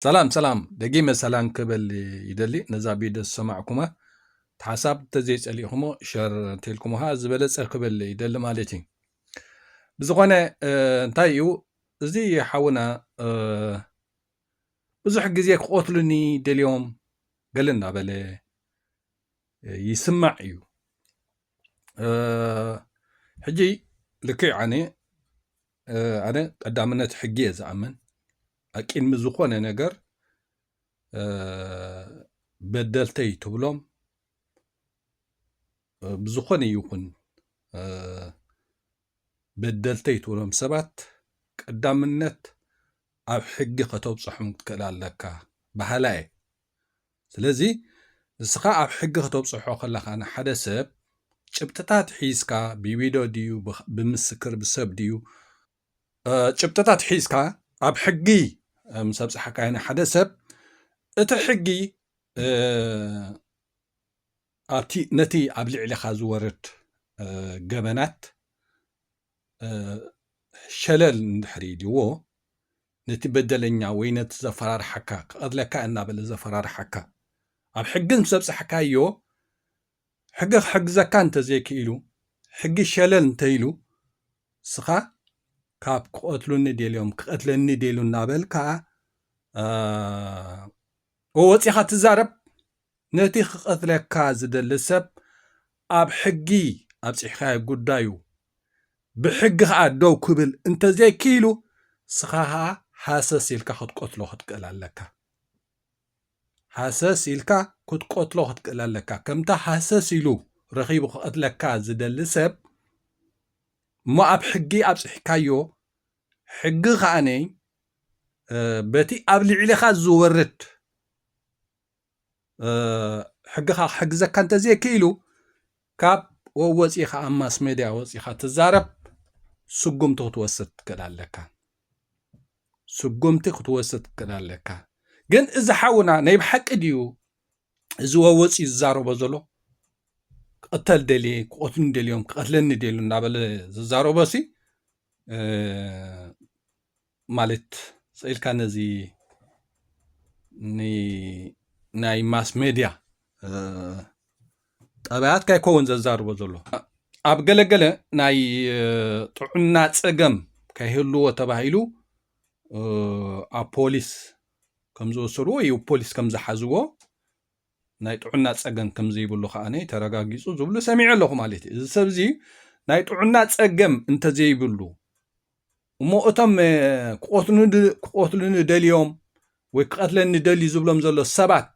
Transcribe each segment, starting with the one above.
ሰላም ሰላም ደጊመ ሰላም ክበል ይደሊ ነዛ ቢደ ዝሰማዕኩማ ሓሳብ እንተዘይጸሊእኹሞ ሸር እንተልኩምሃ ዝበለጸ ክበል ይደሊ ማለት እዩ ብዝኾነ እንታይ እዩ እዚ ሓውና ብዙሕ ግዜ ክቐትሉኒ ደልዮም ገለ እናበለ ይስማዕ እዩ ሕጂ ልክዕ ኣነ ኣነ ቀዳምነት ሕጊ እየ ዝኣምን ኣቂድሚ ዝኾነ ነገር በደልተይ ትብሎም ብዝኾነ ይኹን በደልተይ ትብሎም ሰባት ቀዳምነት ኣብ ሕጊ ከተብፅሖም ክትክእል ኣለካ በሃላ እየ ስለዚ ንስኻ ኣብ ሕጊ ክተብጽሖ ከለኻ ንሓደ ሰብ ጭብጥታት ሒዝካ ብቪድዮ ድዩ ብምስክር ብሰብ ድዩ ጭብጥታት ሒዝካ ኣብ ሕጊ ምስ ኣብጽሓካዮ ንሓደ ሰብ እቲ ሕጊ ኣብቲ ነቲ ኣብ ልዕሊኻ ዝወርድ ገበናት ሸለል እንድሕር ኢልዎ ነቲ በደለኛ ወይ ነቲ ዘፈራርሓካ ክቐትለካ እናበለ ዘፈራርሓካ ኣብ ሕጊ ምስ ኣብጻሕካዮ ሕጊ ክሕግዘካ እንተ ዘይክኢሉ ሕጊ ሸለል እንተ ኢሉ ንስኻ ካብ ክቐትሉኒ ደልዮም ክቐትለኒ ደልዩ እናበልካ ወፂኻ ትዛረብ ነቲ ክቀትለካ ዝደሊ ሰብ ኣብ ሕጊ ኣብፂሕካዮ ጉዳዩ ብሕጊ ከዓ ደው ክብል እንተዘይክኢሉ ስኻ ከዓ ሃሰስ ኢልካ ክትቆትሎ ክትክእል ኣለካ ሃሰስ ኢልካ ክትቆትሎ ክትክእል ኣለካ ከምታ ሃሰስ ኢሉ ረኺቡ ክቀትለካ ዝደሊ ሰብ እሞ ኣብ ሕጊ ኣብፂሕካዮ ሕጊ ከኣ በቲ ኣብ ልዕሌኻ ዝወርድ ሕግኻ ክሕግዘካ እንተዘይክኢሉ ካብ ወወፂኻ ኣብ ማስ ሜድያ ወፂኻ ትዛረብ ስጉምቲ ክትወስድ ትክእል ኣለካ ስጉምቲ ክትወስድ ትክእል ኣለካ ግን እዚ ሓውና ናይ ብሓቂ ድዩ እዚ ወወፂ ዝዛረቦ ዘሎ ክቕተል ደልየ ክቐትሉኒ ደልዮም ክቐትለኒ ደልዩ እናበለ ዝዛረቦ ሲ ማለት ስኢልካ ነዚ ናይ ማስ ሜድያ ጠባያት ካይከውን ዘዛርቦ ዘሎ ኣብ ገለገለ ናይ ጥዑና ፀገም ከይህልዎ ተባሂሉ ኣብ ፖሊስ ከም ዝወሰድዎ ወይ ፖሊስ ከም ዝሓዝዎ ናይ ጥዑና ጸገም ከም ዘይብሉ ከኣ ተረጋጊጹ ዝብሉ ሰሚዐ ኣለኹ ማለት እዩ እዚ ሰብ እዚ ናይ ጥዑና ጸገም እንተዘይብሉ እሞ እቶም ክቐትሉኒ ደልዮም ወይ ክቐትለኒ ደልዩ ዝብሎም ዘሎ ሰባት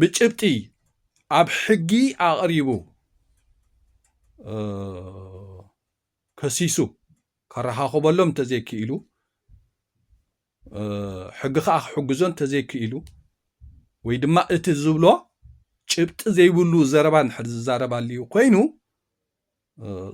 ብጭብጢ ኣብ ሕጊ ኣቕሪቡ ከሲሱ ከረኻኽበሎም እንተዘይክኢሉ፣ ሕጊ ከኣ ክሕግዞ እንተዘይክኢሉ፣ ወይ ድማ እቲ ዝብሎ ጭብጢ ዘይብሉ ዘረባ እንድሕር ዝዛረብ ኣልዩ ኮይኑ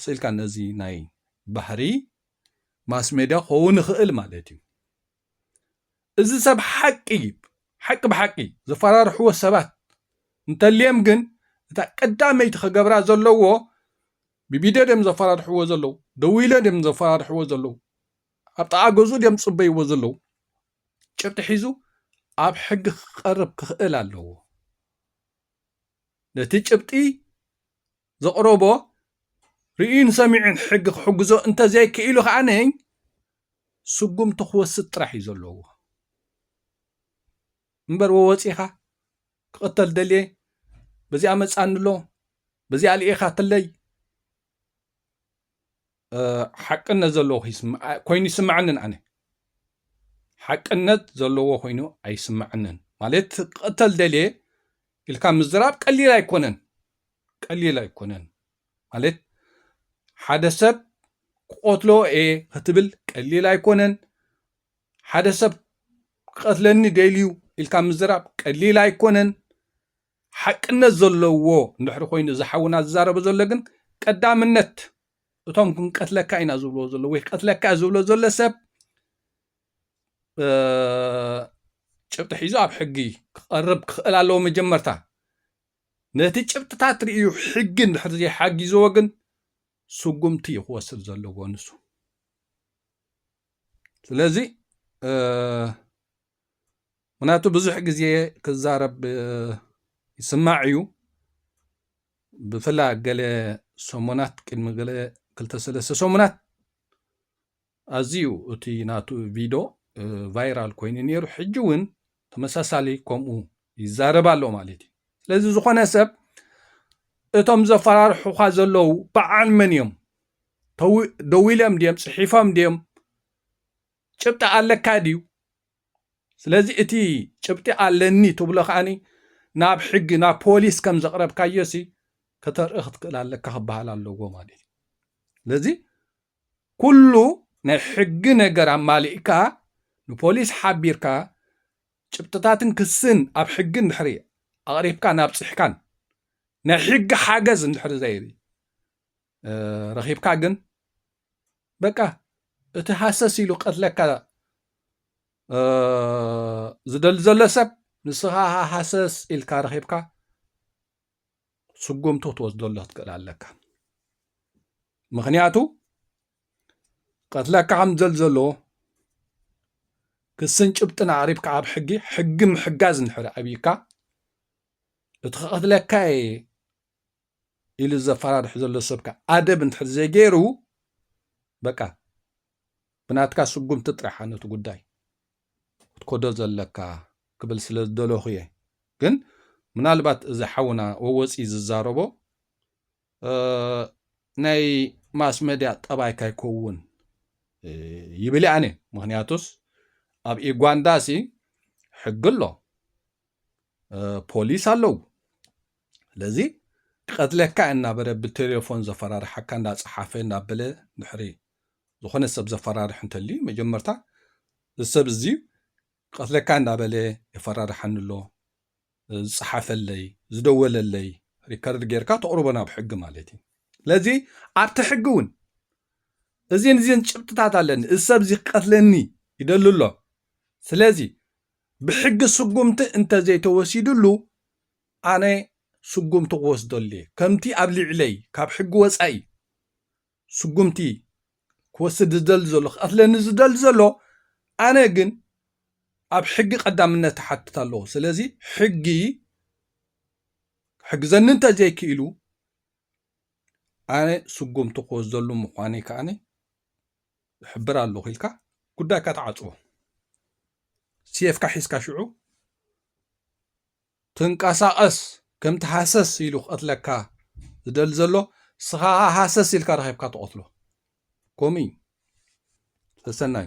ስኢልካ ነዚ ናይ ባህሪ ማስሜድያ ክኸውን ይኽእል ማለት እዩ። እዚ ሰብ ሓቂ ሓቂ ብሓቂ ዘፈራርሕዎ ሰባት እንተልዬም ግን እታ ቀዳመይቲ ክገብራ ዘለዎ ብቪድዮ ድዮም ዘፈራርሕዎ ዘለዉ ደዊሎም ድዮም ዘፈራርሕዎ ዘለዉ ኣብ ጥቓ ገዝኡ ድዮም ዝፅበይዎ ዘለዉ ጭብጢ ሒዙ ኣብ ሕጊ ክቐርብ ክኽእል ኣለዎ ነቲ ጭብጢ ዘቕረቦ ርእዩን ሰሚዑን ሕጊ ክሕግዞ እንተዘይክኢሉ ከኣ ስጉምቲ ክወስድ ጥራሕ እዩ ዘለዎ እምበር ወወፂኻ ክቕተል ደልየ በዚኣ መፃኒ ኣሎ በዚኣ ልኢኻትለይ ሓቅነት ዘለዎ ኮይኑ ይስምዐንን ኣነ ሓቅነት ዘለዎ ኮይኑ ኣይስምዐንን ማለት ክቕተል ደልየ ኢልካ ምዝራብ ቀሊል ኣይኮነን ቀሊል ኣይኮነን ማለት ሓደ ሰብ ክቐትሎ እየ ክትብል ቀሊል ኣይኮነን ሓደ ሰብ ክቐትለኒ ደልዩ ኢልካ ምዝራብ ቀሊል ኣይኮነን ሓቅነት ዘለዎ እንድሕሪ ኮይኑ እዚ ሓውና ዝዛረቦ ዘሎ ግን ቀዳምነት እቶም ክንቀትለካ ኢና ዝብልዎ ዘሎ ወይ ክቀትለካ ዝብሎ ዘሎ ሰብ ጭብጢ ሒዙ ኣብ ሕጊ ክቐርብ ክኽእል ኣለዎ መጀመርታ ነቲ ጭብጥታት ርእዩ ሕጊ እንድሕር ዘይሓጊዝዎ ግን ስጉምቲ እዩ ክወስድ ዘለዎ ንሱ ስለዚ ምክንያቱ ብዙሕ ግዜ ክዛረብ ይስማዕ እዩ ብፍላይ ገለ ሰሙናት ቅድሚ ገለ ክልተ ሰለስተ ሰሙናት ኣዝዩ እቲ ናቱ ቪዶ ቫይራል ኮይኑ ነይሩ ሕጂ እውን ተመሳሳሊ ከምኡ ይዛረብ ኣሎ ማለት እዩ ስለዚ ዝኾነ ሰብ እቶም ዘፈራርሑኻ ዘለዉ በዓል መን እዮም ደዊሎም ድዮም ፅሒፎም ድዮም ጭብጢ ኣለካ ድዩ? ስለዚ እቲ ጭብጢ ኣለኒ ትብሎ ከኣኒ ናብ ሕጊ ናብ ፖሊስ ከም ዘቕረብካዮሲ ከተርኢ ክትክእል ኣለካ ክበሃል ኣለዎ ማለት እዩ። ስለዚ ኩሉ ናይ ሕጊ ነገር ኣማሊእካ ንፖሊስ ሓቢርካ ጭብጥታትን ክስን ኣብ ሕጊ እንድሕሪ ኣቕሪብካን ኣብፂሕካን ናይ ሕጊ ሓገዝ እንድሕሪ ዘይሪ ረኺብካ ግን በቃ እቲ ሃሰስ ኢሉ ቀትለካ ዝደሊ ዘሎ ሰብ ንስኻ ሃሰስ ኢልካ ረኺብካ ስጉምቱ ክትወስደሉ ክትክእል ኣለካ ምክንያቱ ቀትለካ ከም ዘል ዘለዎ ክስን ጭብጥን ኣቕሪብካ ኣብ ሕጊ ሕጊ ምሕጋዝ ንሕሪ ኣብይካ እቲ ክቐትለካ እየ ኢሉ ዘፈራርሕ ዘሎ ሰብካ ኣደብ እንድሕር ዘይገይሩ በቃ ብናትካ ስጉምቲ ጥራሓ ነቲ ጉዳይ ክትኮዶ ዘለካ ክብል ስለ ዝደለኹ እየ ግን ምናልባት እዚ ሓውና ወወፂ ዝዛረቦ ናይ ማስ መድያ ጠባይ ካይከውን ይብል ኣነ ምክንያቱስ ኣብ ኢጓንዳሲ ሕጊ ኣሎ ፖሊስ ኣለዉ ስለዚ ክቐትለካ እናበለ ብቴሌፎን ዘፈራርሓካ እንዳፀሓፈ እናበለ ድሕሪ ዝኾነ ሰብ ዘፈራርሕ እንተልዩ መጀመርታ እዚ ሰብ እዚ ቀትለካ እንዳበለ የፈራርሓኒ ኣሎ ዝፀሓፈለይ ዝደወለለይ ሪከርድ ጌርካ ተቕርቦ ናብ ሕጊ ማለት እዩ ስለዚ ኣብቲ ሕጊ እውን እዚን እዚን ጭብጥታት ኣለኒ እዚ ሰብ እዚ ክቀትለኒ ይደሊ ኣሎ ስለዚ ብሕጊ ስጉምቲ እንተዘይተወሲድሉ ኣነ ስጉምቲ ክወስደሉ እየ። ከምቲ ኣብ ሊዕለይ ካብ ሕጊ ወጻኢ ስጉምቲ ክወስድ ዝደሊ ዘሎ ክቀትለኒ ዝደሊ ዘሎ ኣነ ግን ኣብ ሕጊ ቀዳምነት ይሓትት ኣለዎ። ስለዚ ሕጊ ክሕግዘኒ እንተዘይክኢሉ ኣነ ስጉምቲ ክወስደሉ ምዃነይ ከኣ እሕብር ኣለኹ ኢልካ ጉዳይካ ተዓጽዎ ሴፍካ ሒዝካ ሽዑ ትንቀሳቐስ ከምቲ ሃሰስ ኢሉ ክቐትለካ ዝደሊ ዘሎ ስኻ ሃሰስ ኢልካ ረኺብካ ትቐትሎ ከምኡ እዩ ሰሰናዩ